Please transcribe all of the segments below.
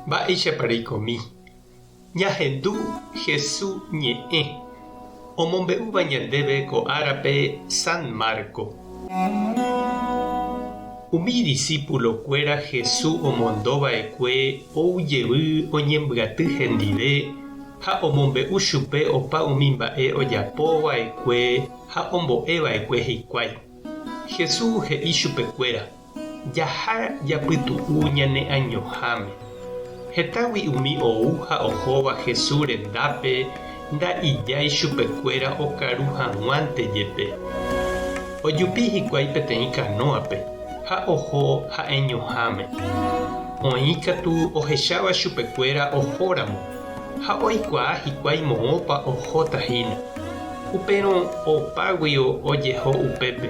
Mba'éichapa reikomi ñahendu Hesu ñe'ẽ omombe'úva ñandéve ko árape San Marco. Umi disípulo kuéra Hesu omondo vaekue ou jevy oñembyaty hendive ha omombe'u chupe opa umi mba'e ojapo vaekue ha ombo'e vaekue hikuái. Hesu he'i chupekuéra. Jaha japytu'u ñane añoháme. Hetágui umi ou ha ohóva Hesu rendápe nda ijái chupekuéra okaru haguãnte jepe. Ojupi hikuái peteĩ kanóape ha oho ha'eñoháme. Oĩ katu ohecháva chupekuéra ohóramo ha oikuaa hikuái moõpa ohóta hína. Upérõ opágui ojeho upépe.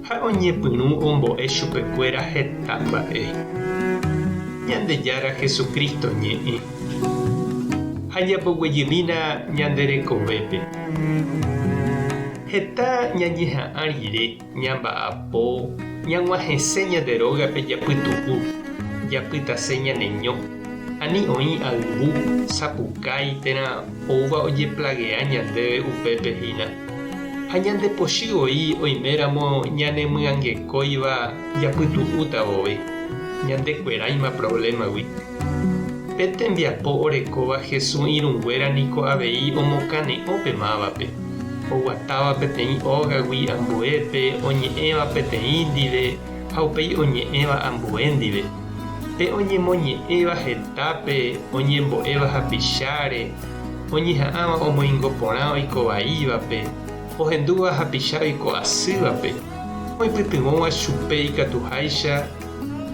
Ha oñepyrũ ombo'e chupekuéra heta mba'e. Ñandejára Jesucristo ñe'ẽ. Ha ñamboguejymína ñande rekovépe. Heta ñañeha'ã rire, ñamba'apo, ñag̃uahẽse ñande rógape japytu'u, japytase ñaneño, ani oĩ ayvu, sapukái térã oúva ojeplagea ñandéve upépe hína. Ha ñandepochy voi oiméramo ñanemyangekóiva japytu'úta voi, ñandekueráima provlémagui. Pe tembiapo orekóva Jesús irũnguéra niko avei omokane'õ pe mávape, oguatáva peteĩ ógagui ambuépe, oñe'ẽva peteĩ ndive ha upéi oñe'ẽva ambue ndive, pe oñemoñe'ẽva hetápe, oñembo'éva hapicháre, oñeha'ãva omoingo porã oiko vaívape, ohendúva hapicha oiko asývape, oipytyvõva chupe ikatuháicha,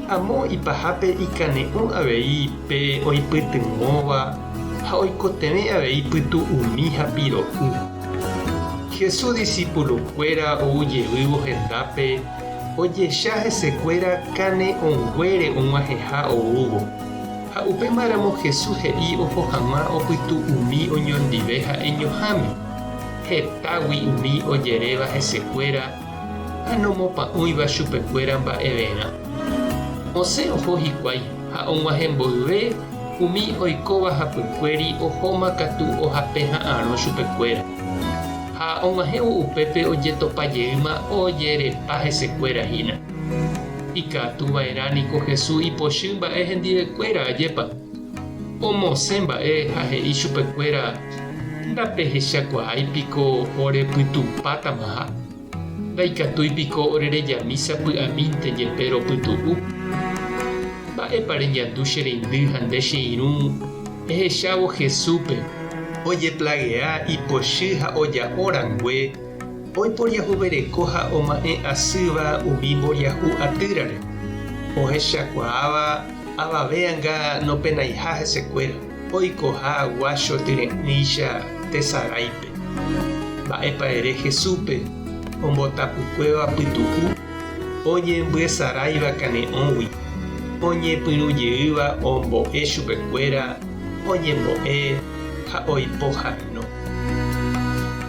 amo ipahápe ikane'õ avei pe oipytyvõva ha oikotevẽ avei pytu umi ha piro'y. Jesús disípulokuéra ou jevývo hendápe ojecha hesekuéra kane'õnguére og̃uahẽha oúvo. Ha upéma ramo Jesús he'i oho haguã opytu umi oñondive ha'eñoháme. Hetágui umi ojeréva hese kuéra ha nomopa'ũiva chupe kuéra mba'everã. Osẽ oho hikuái ha oguahẽ mboyve umi oikóva hapykuéri ohóma katu ohape ha'arõ chupe kuéra. Ha oguahẽvo upépe ojetopa jeýma ojerepa hese kuéra hína. Ikatu va'erã niko Jesús ipochy mba'e hendivekuéra, ajépa? Omosẽ mba'e ha he'i chupekuéra, Ndapehechakuaái piko orepytupátamaha? Ndaikatúi piko orereja mísa py'amínte jepe ropytu'u? Mba'épa reñandu che reindy ha nde che irũ ehechávo Jesúspe? Ojeplaguea ipochy ha oja'o rangue Oiporiahuvereko ha oma'ẽ asýva umi mboriahu atýrare, ohechakuaáva avave anga nopenaiha hesekuéra, oikoha guácho tyre'ỹicha tesaráipe. Mba'épa ere Jesúspe ombotapukuéva pytu'u oñembyesaráiva kane'õgui, oñepyrũ jeýva ombo'e chupekuéra oñembo'e ha oipo haranó?